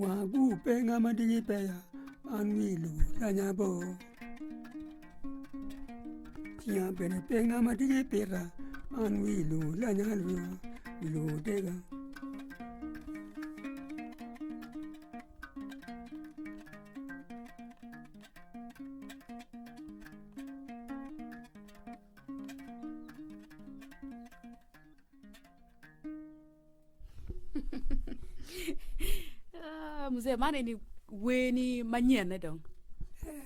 Wagu pe ngat ma diki peya man wi lum lanya bo Tinga bene pe ngat ma diki pita man wi lum lanya bo wi lum otega Ah, mzee, man eni weni manyen dong.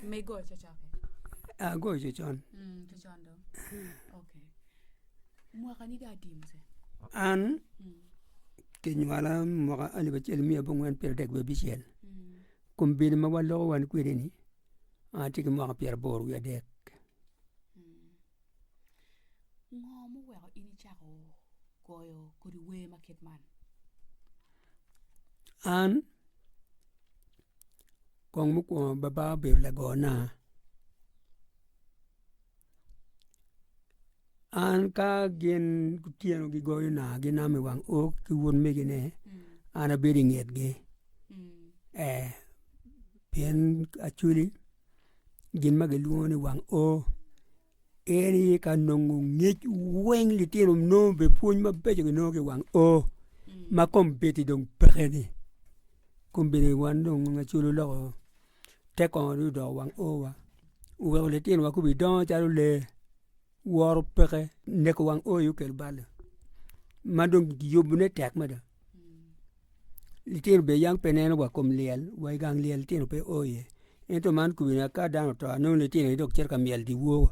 Me go cocoke. Ah, go cocon. Mm, cocon dong. Okay. Mwaka ni da ati mzee. An mm. kinywala mwaka alip acel miya bongwen pyero dek wiye bicel. Mm. Kum bili ma waloko wan kwede ni ati ki mwaka pyero bor wiye dek. Ngo muweko in icako goyo kodi wer ma kit man? An kong mukwongo baba obedo lagona. An ka gin gutyeno gigoyona ginamo i wang ot ki wun megine, an abedo i ngetgi. Ee, pien acwili. gin ma gilwongo ni wang O, en aye ka nongo ngec weng litino nongo bene pwony mabeco ginongo ki i wang O, ma kombeddi dong pekeni, kombeddi wan dong nongo aculu loko te kongo ni odoko wang O wa, oweko litinowa kong gidongo calo lee, woro peke, neko wang O aye okelo balli, ma dong giyubone tek mada. Litino obedo yam pe neno wa kom lyel wa i gang lyel litino pe o iye ento man kubi na ka dano oto anongo litino aye dok cito ka myel dyewor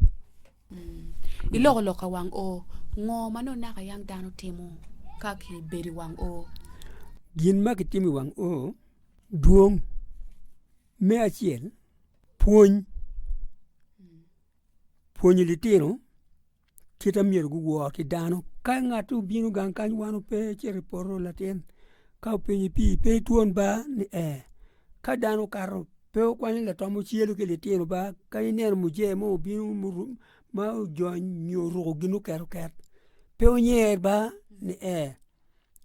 iloko lok ka wang o ngo ma nongo naka yam dano timo ka kibedo i wang o gin ma kitimo i wang o dwong me acel pwony pwonyo litino kite ma myero guwor ki dano. Ka ngat obino gang kany wan wape icito i poto latin ka openyo ni pii pe itwon ba ni ee ka dano okato pe okwanyo latam ocelu ki litino ba ka ineno muje mo obino ma ojony nyo oruko gin ma oket oket pe onyer ba ni ee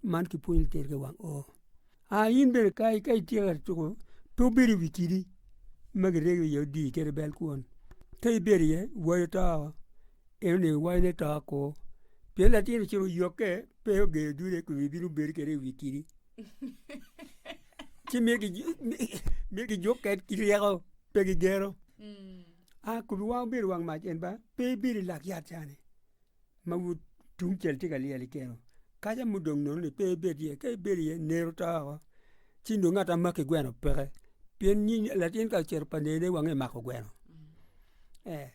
man kipwonyo lutino ki wang oo a in bene ka itye ka tuko pe wubedo i wi kidi ma giryegi iye odii kadi i bel kwon ka ibedo iye iwaco to oo en onego iwac ne to ko pien latin ocito oyokke pe ogedo dude kun ibino bedo kede i wi kidi ci miyo miyo gijuk ked ki ryeko pe gigero a kodi wang obedo wang mac en ba pe ibedo i lak yat cani ma but tungcel tye ka lyel i keno, kaca ma odong nononi pe ibed iye, ka ibedo iye neri to woko, ci nongo ngat ma makki gweno peke, pien nying latin ka ocito pa nene wange mako gweno, ee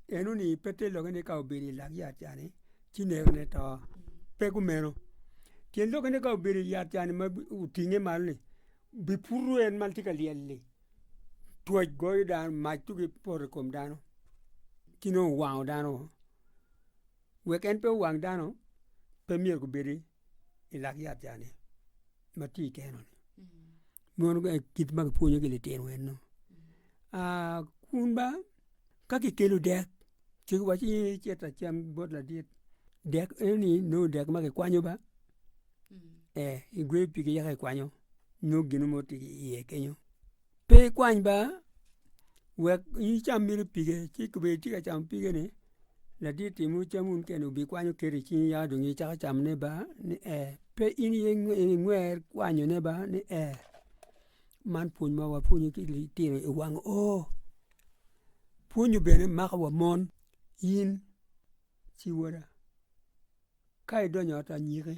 enoni pe tye lokke ni ka obedo i lak yat ca ni ci nerone to, pe kumeno, pien lokke ni ka obedo i yat ca ni ma otinge malo ni biputo en ma tye ka lyel-li. Twaj goyo dano, mac to gipoto i kom dano ci nongo owango dano oo. Wek en pe owang dano pe myero gubedi i lak yat ca ni ma tye i keno ni mono kit ma kipwonyogi litino eno. Aa kun ba Ka kikelo dek ci kiwaco ni ecit acam bot ladit dek enoni nongo dek ma kikwanyo ba igweyo pige yaka ikwanyo nongo gin mo tye ki iye kenyo pe ikwany ba wek in icam mere pige ci kobedi itye ka camo pige ni ladit oti ma cam wun kene obikwanyo keto icingi yaka dong icako camone ba ni pe in iye ingwer kwanyone ba ni. Man pwony ma wapwonyo ki litino i wang o pwonyo bene mako wa mon in ci woda ka idonyo i ot anyiki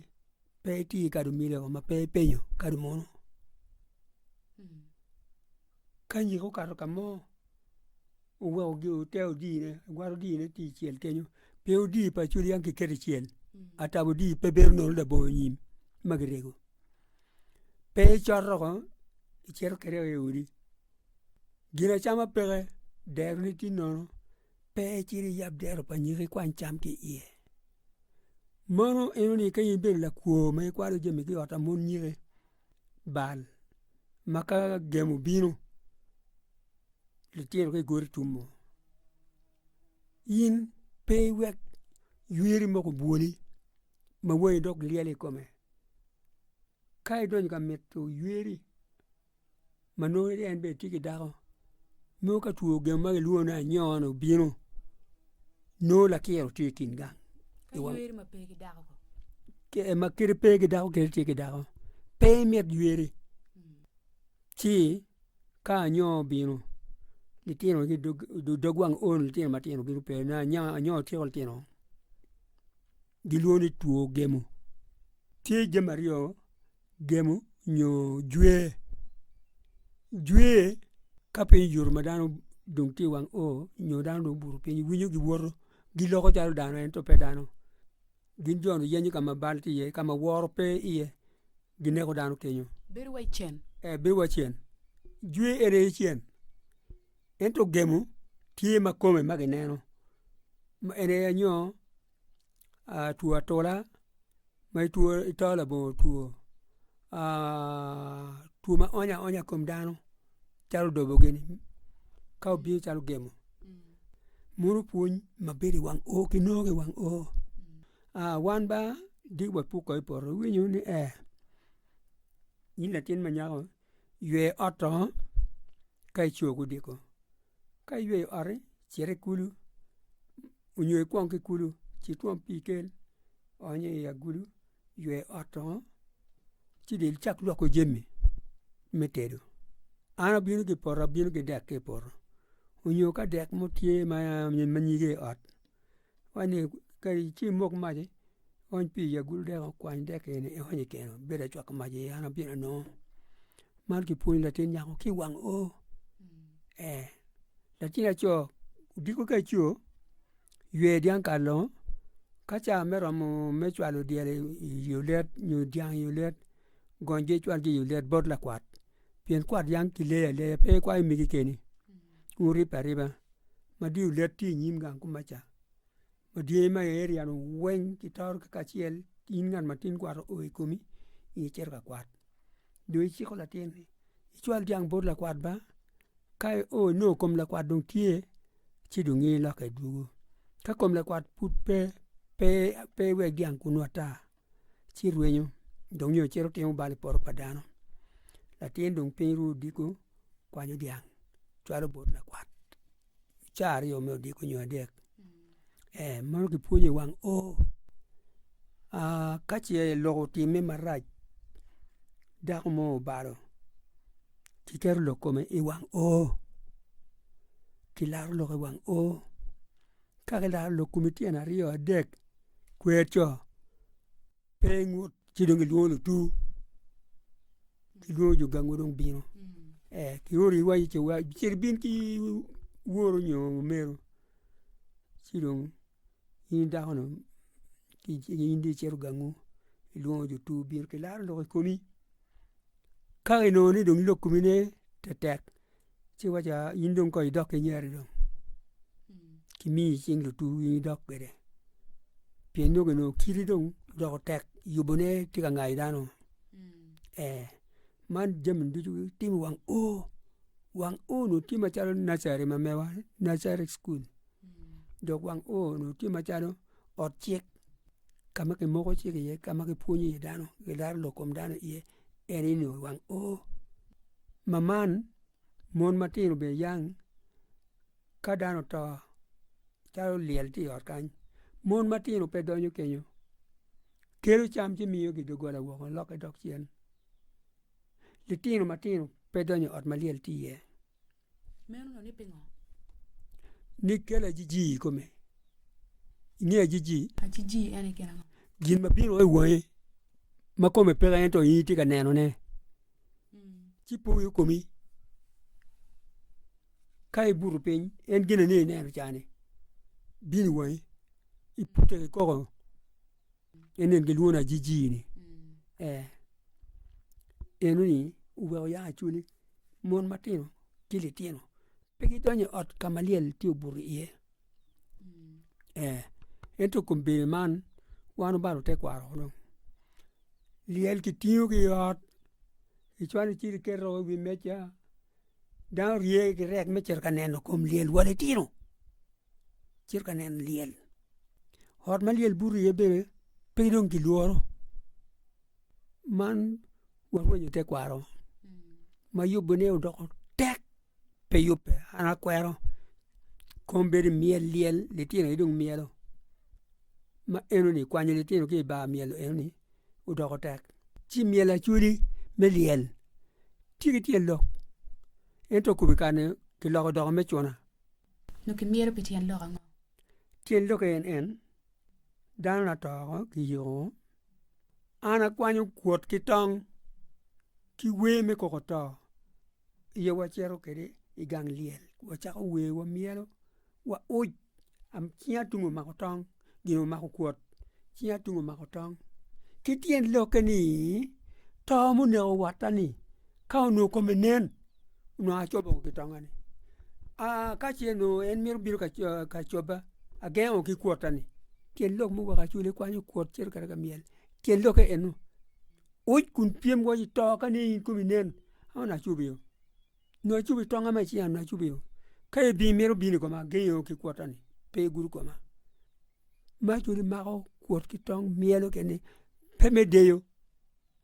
pe iti kadi omyeri woko ma pe ipenyo kadi munu ka nyiki okato ka mo oweko gi ote odine iwaro dine ti icel kenyo pe odi pa culu yam kiketo icel atabo odi pe bedo nongo labongo nyim ma kirego pe icoto oko icito kwede i odi gin acama peke dero ne tye nono pe icito iyab dero pa nyiki ikwany cam ki iye mono ineno ni ka in ibedo lakwo ma ikwalo jami ki i ot ma mon nyiki bal ma ka gemo obino litino ka igoro itummo in pe iwek ywiri moko obwoli ma wangi dok lyel i kome. Ka idonyo ka mito yweri ma nongo en bene tye ki dako, nongo ka two gemo ma kilwongo ni anyon-ni obino, nongo lakyero tye i kin gang. Ka yweri ma pe ki dako kong? Ee, ma kadi pe ki dako kadi tye ki dako, pe imit yweri ci Ka anyo obino, litino ki dog wang on litino matino bino pe na anya anyo otyeko litino gilwongo ni two gemo. Tye jami aryo gemo nyo jwe, jwe ka piny oyuto ma dano dong tye i wang o nyo dano dong obuto piny iwinyo giwoto giloko calo dano ento pe dano. Gin jo-ni giyenyo ka ma bal tye iye, ka ma woro pe iye, gineko dano kenyo. Bedo wa i cen. Ee, bedo wa i cen. Jwe en aye cen. Ento gemo tye ma kome ma gineno. Ma en aye anyo aa two atola, ma itwo ito labongo two, aa two ma onyo aonya i kom dano. calo odobo gini ka obino calo gemo meno pwony ma bedo i wang o ki nongo ki i wang o wan ba di wa puk wa i poto iwinyo ni ee in latin ma nyako ywe ot to ka ico ka odiko ka iyweyo oti cit i kulu nyo ikwong ki kulu ci twom pii ikel ony i agulu ywe ot ongo, ci dong icak lwoko jami me tedo. An abino ki i poto, abino ki dek ki i poto, nyo ka dek mo tye ma nyige i ot, kani kadi ci imok maci, iony pii i agulu dek, ikwany dek eni iony i keno, ibedo acwako mac iye an abino anongo. Man kipwonyo latin nyako ki i wang oo, ee latin laco odiko ka co. ywe dyang kar longo, ka ca me romo me cwalo dyel i olet nyo dyang i olet, gong jo cwalgi i olet bot lakwat, pien kwat yang kileyo aleya pe ikwayo mege keni, pien wuribbe ariba. Ma dong olet tye i nyim gang kuma ca, ma dyangi ma i area-nu weng gitoro kacel, in ngat matin kwaro oo i komi, in icito ka kwat. nyo iciko latin ni icwal dyang bot lakwat ba, ka io inongo kom lakwat dong tye, ci dong in ilokke idwogo. Ka kom lakwat pud pe, pe pe iwek dyang kunnu ata, ci irwenyo dong nyo icito itimo bal i poto pa dano. Latin dong piny ru odiko kwanyo dyang cwalo bot lakwat. caa aryo me odiko nyo adek ee meno kipwonyo i wang o ka ce lok otimme marac dako mo obalo kiketo lok kome i wang o kilaro lok i wang o ka kilaro lok kome tyen aryo adek kwer co. Pe ngut ci dong gilwongo lutur gilwongo jo gangu dong bino kioro i waci cito ibin ki woru nyo omeru ci dong in dako nu in dong icito gangu ilwongo lutur bino kilaro lok i komi ka inongo ni dong lok komine tetek Ci waco, aa, in dong kong idok ki nyeri dong, kimiyi i cing lutu in idok kwede. Pien dong onongo kiti dong odoko tek, yubone tye ka ngayo dano ee. Man jami ducu gitimo wang o, wang o onongo tye macalo nursery ma mewa ni, nursery school, dok wang o onongo tye macalo ot cik ka ma kimoko cik iye ka ma kipwonyo iye dano gilaro lok kom dano iye en ini wang o ma man mon matino bene yang ka dano oto calo lyel tye i ot kany mon matino pe donyo kenyo kelo cam ci miyogi i doggola woko lok ki dog cen litino matino pe donyo i ot ma lyel tye iye. Meno-ni ni pingo? Ni kel ajiji i kome. I nge ajiji? Ajiji ene gin ango? Gin ma bino i wangi ma kome peke ento in itye ka nenone. Ci po wiyi okomi. Ka ibuto piny, en gin eni ineno ca-ni bino i wangi, ipute ki koko. Enen gilwona ajiji ni ee, enoni oweko ya cwinyi. Mon matino ki litino pe gidonyo i ot ka ma lyel tye obuto iye ee, ento i kom bedo man wan obalo tekwaro wunu. Lyel kitingo ki i ot, icwalo icito iketo i wi meja, dano rye ki rek me cito ka neno kom lyel wa litino. cito ka neno lyel ot ma lyel buto iye bene pe dong kilworo man warwenyo tekwaro ma yubune odoko tek pe yubbe an akwero kom bedo i myel lyel litino aye dong myelo ma enoni kwanyo litino ki i bar myelo enoni odoko tek ci myel acholi me lyel tye ki tyen lok ento kome kane kiloko odoko me cuna. Nyo kimyero pi tyen lok ango? Tyen lok en en, dano na to ko kiyiko. An akwanyo kwot ki tong ki wer me koko to aye wacito kwede i gang lyel wacako wer wamyelo wa uc cinga tung omako tong. gin omako kwot, cinga tung omako tong. Ki tyen lokke ni, to ma oneko watta ni ka onongo kome nen, onongo acobo ki tongnga ni. Aa ka ce onongo en mito bino ka co ka cobba, agengo ki kwotta ni. Tyen lok mu weko acwele kwanyo kwot cito kata ka myel. Tyen lokke eno. Uc kun pyem waci to ka nene in komi nen, a onongo acobio. nyo acubi tong ame ci an acubi o ka i bim mito bino i koma agengo ki kwota ni pe igudo koma ma cudi mako kwot ki tong myelo kene pe me deyo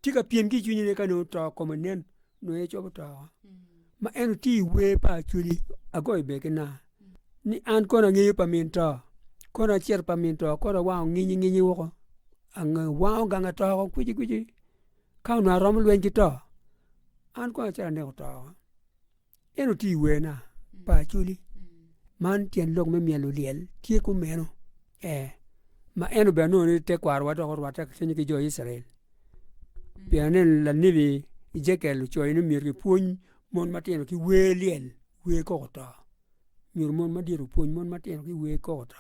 tye ka pyem ki cwinye ne ka nongo to kome nen nongo en cobo to o ma en tye i wer pa acudi agoyo ber ki naa ni an kono angeyo pa min to kono acito pa min to kono awang nginyi nginyi woko ange wango gang atoko kwici kwici Ka onongo aromo lweny ki to, an kono acito aneko to. En oti i werna pa Acholi. Man tyen lok me myel olyel tye kumeno. Ee, ma en obene nongo ni tekwarwa dok orwatte kacel ki jo Icrael. Pien aneno lanebi Ejekiel ocoyo ni myero kipwony mon matino ki wer lyel, wer koko to. Myero mon madit opwony mon matino ki wer koko to.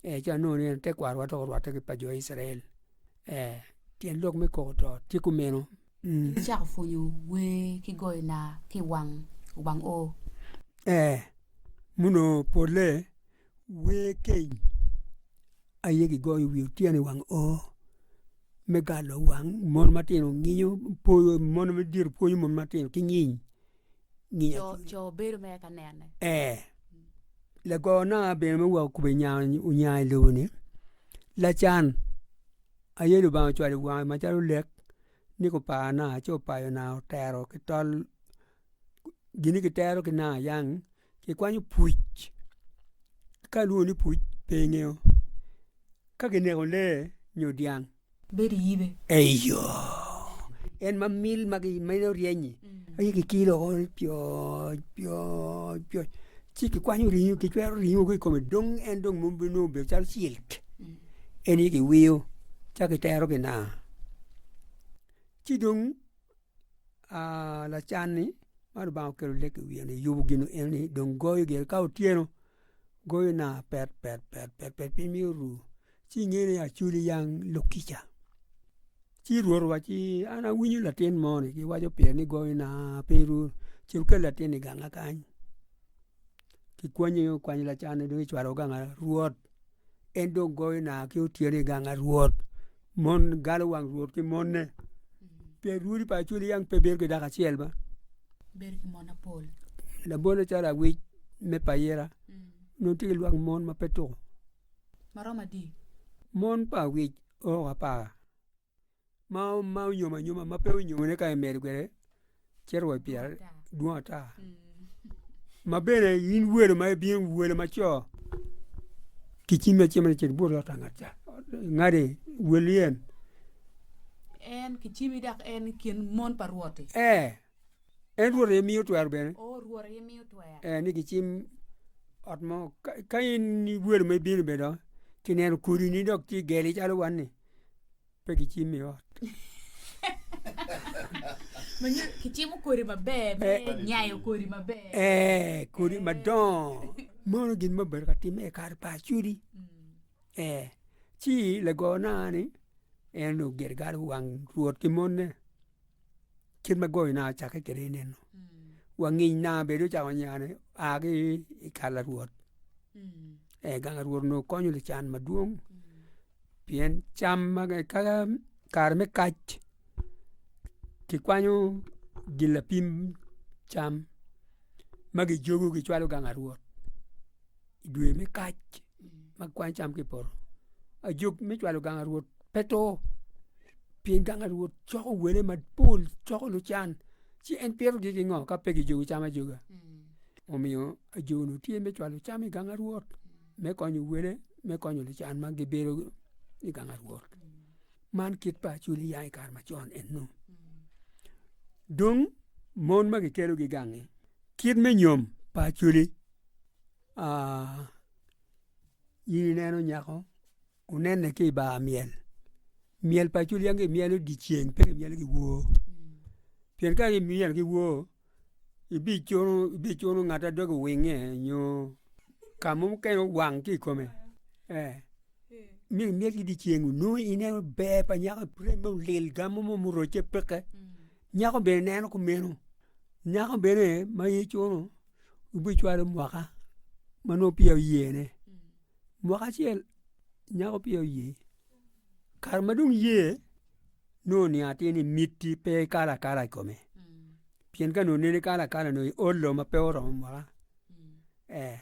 Ee, ci anongo ni en tekwarwa dok orwatte ki pa jo Icrael. Ee, tyen lok me koko to tye kumeno. Icako pwonyo wer ki goyo naa ki i wang Wubang o? Ee, muno polle wer keny aye gigoyo i wi otyeno i wang o me galo wang mon matino nginyo, mono madito pwonyo mon matino ki nyiny. nginya ki nginya. Coo bedo mere ka nene. Ee. Lagoo na bene me weko kube nya onya i lobo ni, lacan aye Lubanga ocwalo i wange macalo lek ni gupar na ci opayo na otero ki tol gin ni gitero ki nanga yang. kikwanyo puc ka lwongo ni puc pe ingeyo ka kineko lee nyo dyang bedo iyibe eyo en ma mil ma meno ryeny-nyi aye kikilo woko ni pyoc pyoc pyoc ci kikwanyo ringo kicwero ringo ki i kome dong en dong mogo bino nongo obedo calo cilik en aye kiwiyo ca kitero kina ci dong lacan-ni ma Lubanga okelo lek i wiye-ni yubo gin eni dong goyo gire ka otyeno goyo na pet pet pet pet pet piny myero oru ci inge ni acwali yang lok kica ci Rwot owac-ci ni an awinyo latin moni giwaco pire ni goyo na piny ru ce wukel latin-ni i ganga kany kikwanyo kwanyo lacan-ni dong kicwalo ganga Rwot En dong goyo naa ki otyeno i gang a Rwot, mon galo wang Rwot ki mone, pien rwodi pa Acoli yang pe bedo ki dako acel ma. Bedo ki mon apol. Labone calo awic me payira, nongo tye ki lwak mon ma pe tuko. Ma romo adi? Mon pa awic o apar. ma onyomo anyoma ma pe onyomone ka imedo kwede cito wa i pyerare dwong ata ma bene in welo ma ibino welo ma co ki cim ma icimone cit ibut i ot angat ca ingadi wel yen en ki cimi dok en i kin mon pa rwot-ti ee en rwot aye miyo twero bene ee ni gicim ot mo ka in welo ma ibino bene dong kineno kodini dok ci geli calo wan-ni pe gicim i ot. kicimo kodi maber me nyayo kodi maber ee kodi madongo mono gin ma obedo ka timme i kare pa acudi ee ci lagona ni en ogido gal wang rwot ki mone cen ma goyona acakke kwede enenu wa ngec na bene ocako nyane oa ki i kar larwot gang larwot onongo konyo lucan madwong pien cam ma kaka kare me kac kikwanyo gin lapim cam ma kijogo kicwalo gang larwot. i dwe me kac ma kwan cam ki i poto, ajog me cwalo ganga rwot pe to, pien ganga rwot coko wele mapol, coko lucan, ci en pitogi ki ngo ka pe kijogo cam ajoga? Omiyo ajogi tye me cwalo cam i ganga rwot, me konyo wele, me konyo lucan ma gibedo i ganga rwot. Man kit pa acoli ya i kare macon ennu. Dong, mon ma kikelogi i gangi, kit me nyom pa acoli. in ineno nyako onene ki i bar myel, myel pa culiangi kimyelo dyeceng pe kimyelo ki wor pien ka kimyelo ki wor ibicuno ngat ma doge owinge nyo ka mo mukene owang ki i kome myero kimyel ki dyeceng nongo ineno ber pa nyako prembe olil gamo mo murocce peke nyako bene neno kumeno nyako bene ma icuno. wubicwalo mwaka ma nongo peya wuyene. Mwaka acel nyako peya oye, kare ma dong ye nongo oniang atir ni mitti pe ikalo akala i kome, pien ka nongo nene ikalo akala nongo i ol lo ma pe oromo mwaka, ee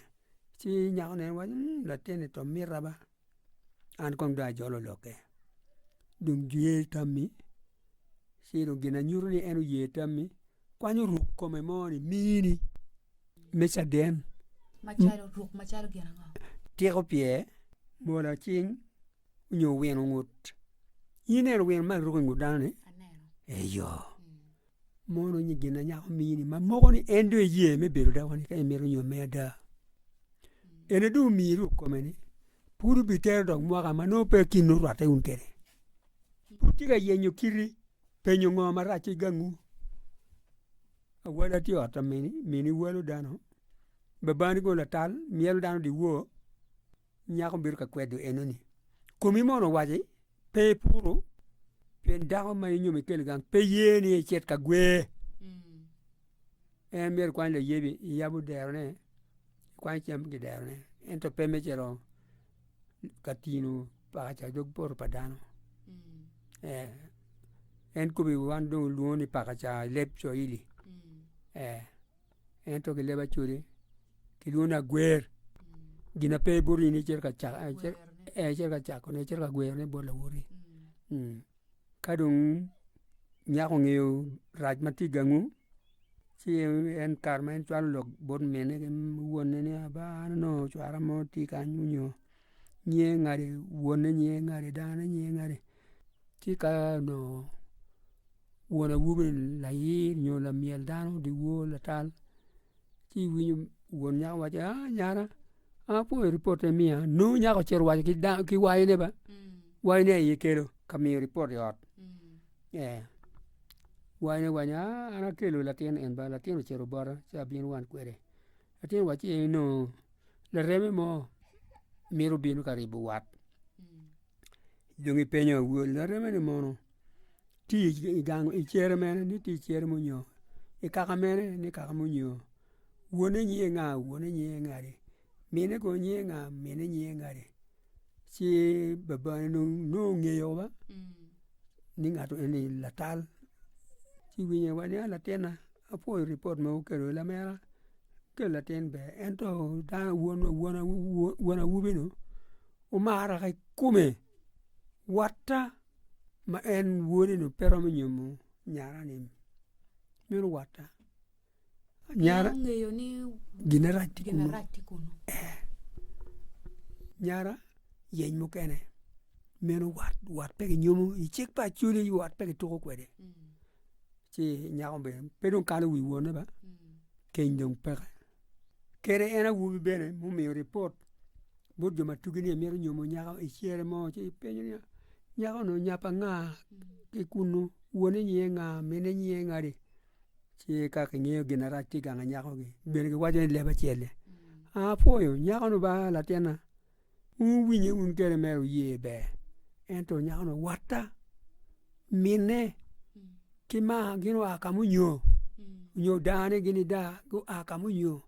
ci nyako neno waci latinni to mita ba. an kong dong ajolo lokke. Dong jwiye i tammi, ci dong gin na nyuto ni en oye tammi, kwanyo ruk kome mo ni mini me caden. Macalo ruk macalo gin ango? Tiko pye, mola cing, nyo wino ngut. In ineno wino ma ruko i ngut dano-ni? Aneno. Eyo. mono nyi gin ma nyako mini ma moko ni en dong iye me bedo dako ni ka imito nyo me ada. Ene dong omiyi ruk kome ni pud obitero dok mwaka ma nongo pe kin nongo orwatte wun kwede. Pud tye ka yenyo kiti penyo ngo marac ki gangu. Awala tye i ot mini, mini walo dano, babani kono latal myero dano odiwor. nyako bino ka kwedo eno ni komi mono owaci pe ipuru pien dako ma inyomo ikelo gang pe ye ni icit ka gwe en myero kwany layebi iyabo derone ikwany cam ki derone ento pe me cito ka tino paka ca dog poto pa dano ee en kobo wan dong olwongo ni paka ca i leb cwaili ee Ento ki leb acwode ki lwongo ni agwer, gin na pe ibuto in icito ka cakone, icito ka gwerone bot lawote. Ka dong nyako ongeyo rac ma tye i gangwu, ci en kare ma en cwalo lok bot minne ki wonne ni aba an onongo cwara mo tye kany onyo nyiye ngati wonne nyiye ngati dano-ne nyiye ngati ci ka onongo won awobi ni layir nyo lamyel dano dyewor latal ci iwinyo won nyako waco ni aa nyara an apo i ripot ma imiya ni nongo nyako ocito owaco ki wayone ba wayone aye ikelo ka miyo ripot i ot ee wayone owaco ni aa an akelo latin en ba latin ocito bota ci abino wan kwede Atye waci eni nongo lareme mo mito bino ka ribo wat dong ipenyo awol lareme ni mono tye i gang i cere mene ni tye i cere munyo i kaka mene ni kaka munyo wone nyinge nga wone nyinge nga di mine kono nyinge nga mine nyinge nga di ci babane dong nongo ngeyo wa ni ngato eni latal ci winyo wa ni latinna Apwoyo ripot ma wukelo ni lamera kel latin ber ento dano wun wun awobi nu wumara ki kome watta ma en wode ni pe romo nyomo nyara ni meno watta nyara gine rac tye kunu ee nyara yeny mukene meno wat wat pe ki nyomo icik pa acwali wat pe ki tuko kwede Ci nyako bene pe dong kalo wi wone ba, keny dong peke. Kere en awobi bene mumiyo ripot bot jo ma tugi ni emito nyomo nyako i cere mo ci penyo niya, nyako-ni onyap anga ki kunnu, wone nyiye anga, mine nyiye ngadi? Ci ka kingeyo gin marac tye i gang anyakogi, bene giwaco ni leb acel-le. Apwoyo, nyako-nu ba latinna. Wuwinye wun kene mere wuye ber. Ento nyako-ni owatta, minne ki maa gin gua ka munyo, nyo dane gin i daa gua ka munyo,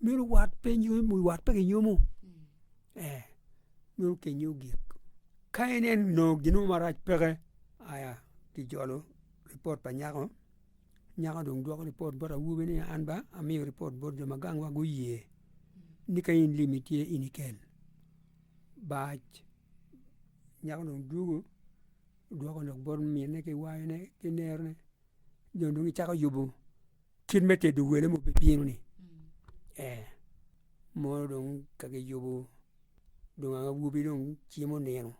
meno wat pe nyomo wat pe ginyomo ee nyo kenyo gik. Ka ineno nongo gin mo marac peke, aya kijolo ripot pa nyako Nyako dong dwoko ripot bot awobi ni an ba amiyo ripot bot jo ma gangwa guye ni ka in lim itye in ikel. Bac nyako dong dwogo dwoko lok bot minne ki wayone ki nerone dong dong icako yubo kit me tedo wele ma obibino ni ee mono dong ka kiyubo dong ang awobi dong cimo nino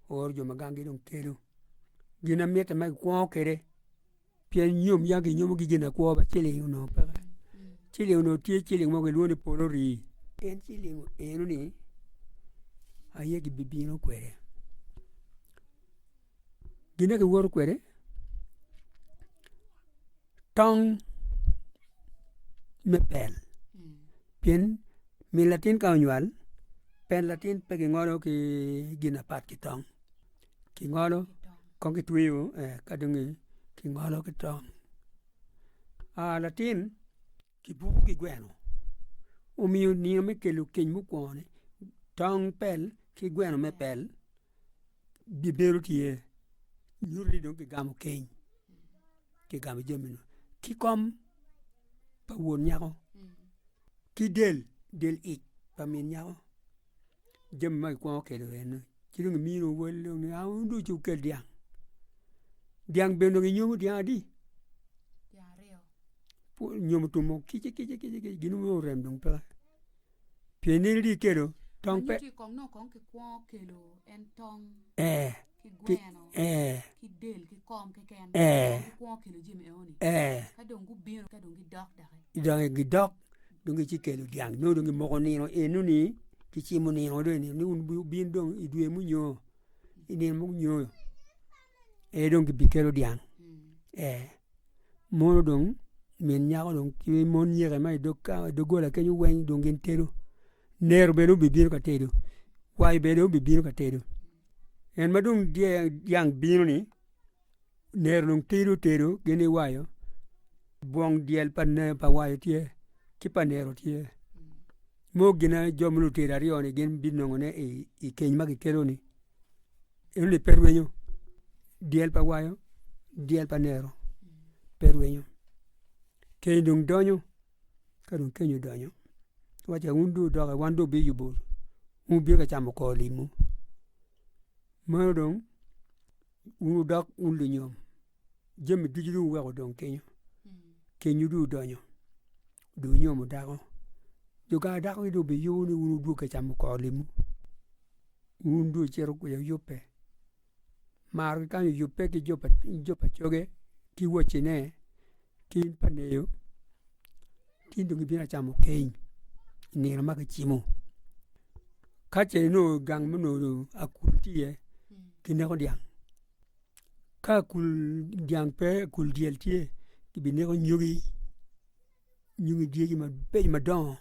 ooro jo ma gangi dong kelo gin na mitte ma kikwongo kwede. pien nyom yam kinyomogi ginakwo ma ciling onongo peke ciling onongo tye ciling mo kilwongo ni polo rii en ciling enoni aye kibibino kwede gin ma kiwoto kwede tong me pel pien min latin ka onywal pel latin pe kingolo ki gin mapat ki tong. kingolo kong kitweyo ka dong kingolo ki tong latin kibuko ki gweno omiyo nino me kelo keny mukwongo ni tong pel ki gweno me pel bibedo tye nyuto ni dong kigamo keny kigamo jami ni ki kom pa won nyako ki del del ic pa min nyako. jami ma kikwongo kelo eno, ci dong imino owel dong ni auu dong ci wukel dyang. Dyang bene dong inyomo dyang adi? Pu nyomo tum mo kici kici kici kici gin weng orem dong pe. Pien in itye kelo tong pe. Ee. pi ee ee ee donge gidok dong gici kelo dyang nyo dong gimoko nino eno ni gicimo nino dong ni wun wubin dong i dwe munyo i nino munyo ee dong gibi kelo dyang ee mono dong min nyako dong ki mon nyeko ma i dog kal i dog gola kenyo weng dong gin tedo Nero bene obibino ka tedo, kwayi bene obibino ka tedo. En ma dong dyang bino ni, nero dong tidi otedo gin iwayo, bwong dyel pa nene pa wayo tye, ki pa nero tye. Mo gina jo ma lutedo aryo ni gin binongo ne i keny ma kikelo ni. Enoni pe rwenyo, dyel pa wayo, dyel pa nero, pe rwenyo. Keny dong donyo. Ka dong keny odonyo, wacce wun dong wudoki, wan dong wubiyubo, wun wubino ka camo kor limwu. Meno dong wun wudok wun lunyom, jami ducu dong wuweko odong kenyo. Kenywu dong odonyo, dong wunyomo dako. Jo gang dako dong wubiyubo ni wun wudwogo ka camo kor limwu. Wun dong wucito kwica wuyubbe. maro ki kany oyubbe ki jo pa coge ki wocine ki in pa ngeyo ci in dong ibino acamo keny i nino ma kicimo. Ka ce inongo i gang ma akul tye iye, kineko dyang, ka akul dyang pe akul dyel tye, kibineko anyogi. nyongi dyegi mabeco madongo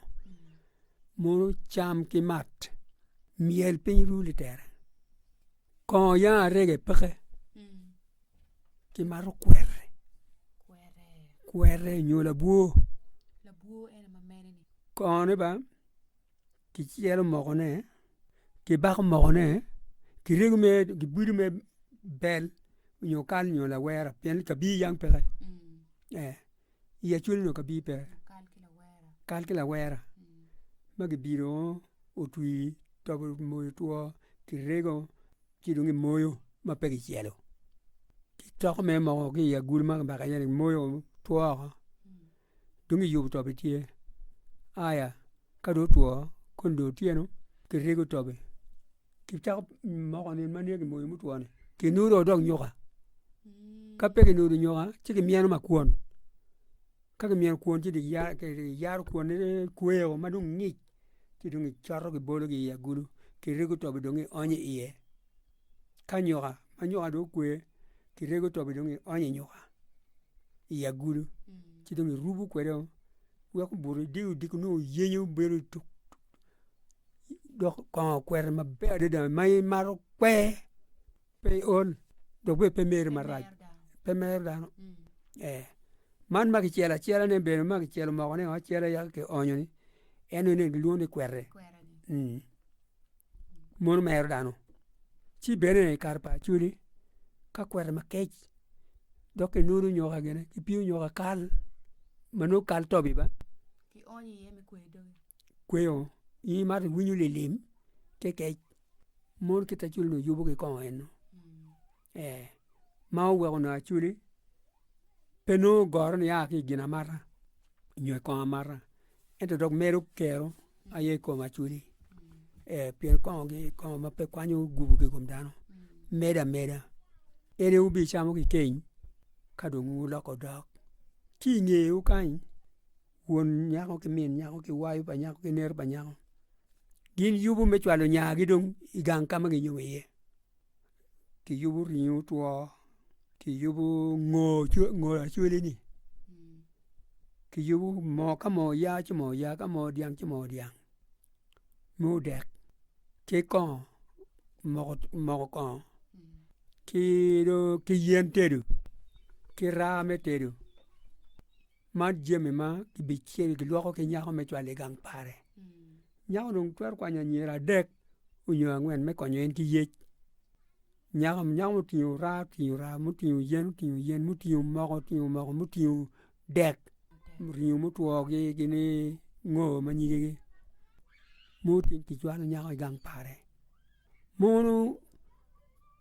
mono cam ki mat myel piny ru litere kongo yanga arege peke ki mato kweri kweri nyo labwo kongo ne bene ki celo moko ne ki bako moko ne ki rego mere ki bwidi mere bel nyo kal nyo lawera pien kabir yam peke. I acwali onongo ka bino peke, kal ki lawera ma gibino otwi tobo moyo two kirego ci dong kimoyo ma pe kicelo. Ki coko mere mogo ki i agulu ma kibaka iye-ni kimoyo woko two woko dong kiyubo tobe tye. Aya ka dong otwo kong dong otyeno kirego tobe. kicako moko nino ma nigi moyo mutwo ni kinudo dong nyuka ka pe kinudo nyuka ci kimyeno ma kwon ka kimyeno kwon ci kiyaro kwon ne kweko ma dong ngic ci dong kicoto kibolo ki i agulu kirego tobi dong kionyo i iye ka nyuka ma nyuka dong okwe kirego tobi dong kionyo i nyuka i agulu ci dong kirubo kwede o wek obuto idiko diko nongo oyenyo bedo tuk. dok kongo okwero maber adada ma in imaro kwe pe iol dok bene pe meri marac pe mero dano ee man ma kicelo acela ne bene ma kicelo moko ne acela yaka ki onyo ni en ni gilwongo ni kweri mono mero dano ci bene i kare pa acholi ka kweri makec dok ki nuru nyoka gene ki piyo nyoka kal ma nongo kal tobi ba kweyo in imato iwinyo lilim te kec mon ki te cwalo yubo ki kongo en no ee ma oweko nongo acwali pe nongo goro ni aa ki i gin amata nyo i kongo amata ento dok medo kero aye i kom acwali ee pien kongo gi kongo ma pe kwanyo gupu ki i kom dano medo ameda en aye wubicamo kikeny ka dong wuloko dok ki i ngeye wu kany won nyako ki min nyako ki wayo pa nyako ki nera pa nyako gin yubu me cwalo nyagi dong i gang ka ma ginyomo iye ki yubu ringo otwo ki yubu ngo ngo lacwale ni ki yubu moo ka moo oya ci moo oya ka moo dyang ci moo dyang me odek ki kongo moko moko kongo ki dong ki yen tedu ki raa me tedu man jami ma kibicel gilwoko ki nyako me cwalo i gang pare. Nyako dong twero kwanyo anyira adek nyo angwen me konyo en ki yec. Nyako nyako mutingo raa otingo raa, mutingo yen otingo yen, mutingo moko otingo moko, mutingo dek, ringo mutwo gi gini ngo ma nyige gi mutingo kicwalo nyako i gang pare. Mono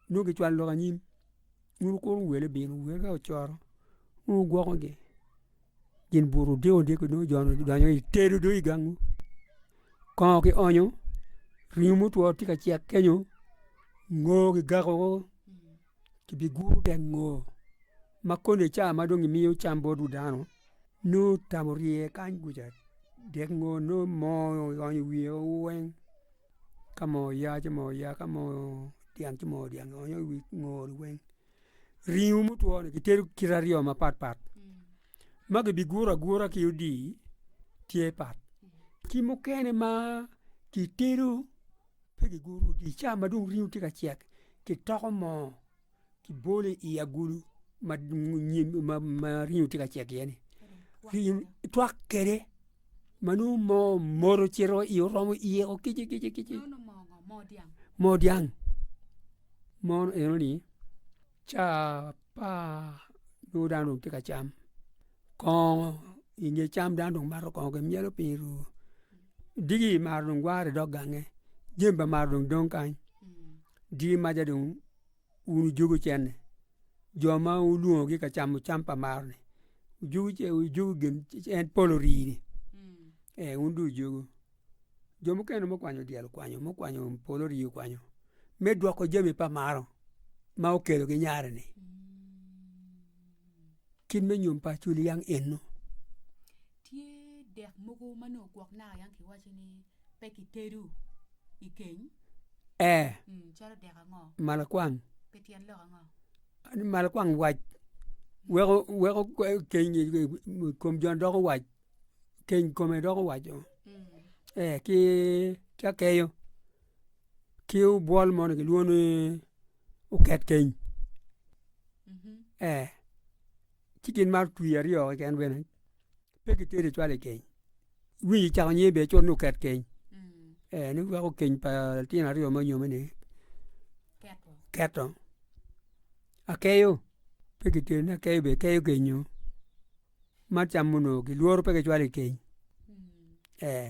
nongo kicwalo lok anyim. bur kuru owele bino, owele ka ocoro nongo wugwokogi, gin bur odiko odiko nongo jo ni gidonyo i tedo dong i gangwu. Kongo ki onyo, ringo mutwo tye ka cek kenyo, ngo kigako go, kibiguro dek ngo ma koni ca ma dong gimiyo cam bot wi dano, nongo tam orye kany kuca, dek ngo nongo moo onyo i wiye weng. ka moo oya ci moo oya, ka moo odyang ci moo odyang, onyo i wi ngor-ri weng. Ringo mutwo-ni kitedo kite aryo mapat pat, ma kibiguro agura ki odii tye pat, ki mukene ma kitedo pe kiguro odii, ca ma dong ringo tye ka cek, kitoko moo. kibolo i agulu ma ringo tye ka cek iye ni ringo twak kwede ma nongo moo omwodo ocito iye oromo iye woko kici kici kici moo dyang mono eno ni ca pa nongo dano dong tye ka cam kongo i nge cam dano dong mato kongo dong myelo piny i ruu digi dong maro gwayo i dog gange jami dong maro dong kany digi maca dong wun wujuko cene, jo ma wulwongogi ka camo cam pa maroni, wujuko ce- wujuko gin en polo rii-ni, ee wun dong wujuko. Jo mukene mukwanyo dyel okwanyo, mukwanyo polo rii okwanyo, me dwoko jami pa maro ma okelo ki nyare-ni. Kit me nyom pa acoli yang eno. Tye dek mogo ma nongo gwok naka yang kiwaco ni pe kitedo i keny. Ee. Mm, calo dek ango? Malakwang. Pe tyen lok ango? Ani malakwang wac weko weko keny kom jon doko wac keny kome doko wac oo. Mm. Ee ki ki akeyo ki obwol moni kilwongo ni oket keny ee ci gin ma otwi aryo keken bene pe ki teri cwalo i keny iwinyo icako nyer bene cwalo ni oket keny ee ni weko keny pa litino aryo ma onyome ni keto akeyo pe ki teri ni akeyo bene keyo kenyo ma camo nongo ki lworo pe ki cwalo i keny ee.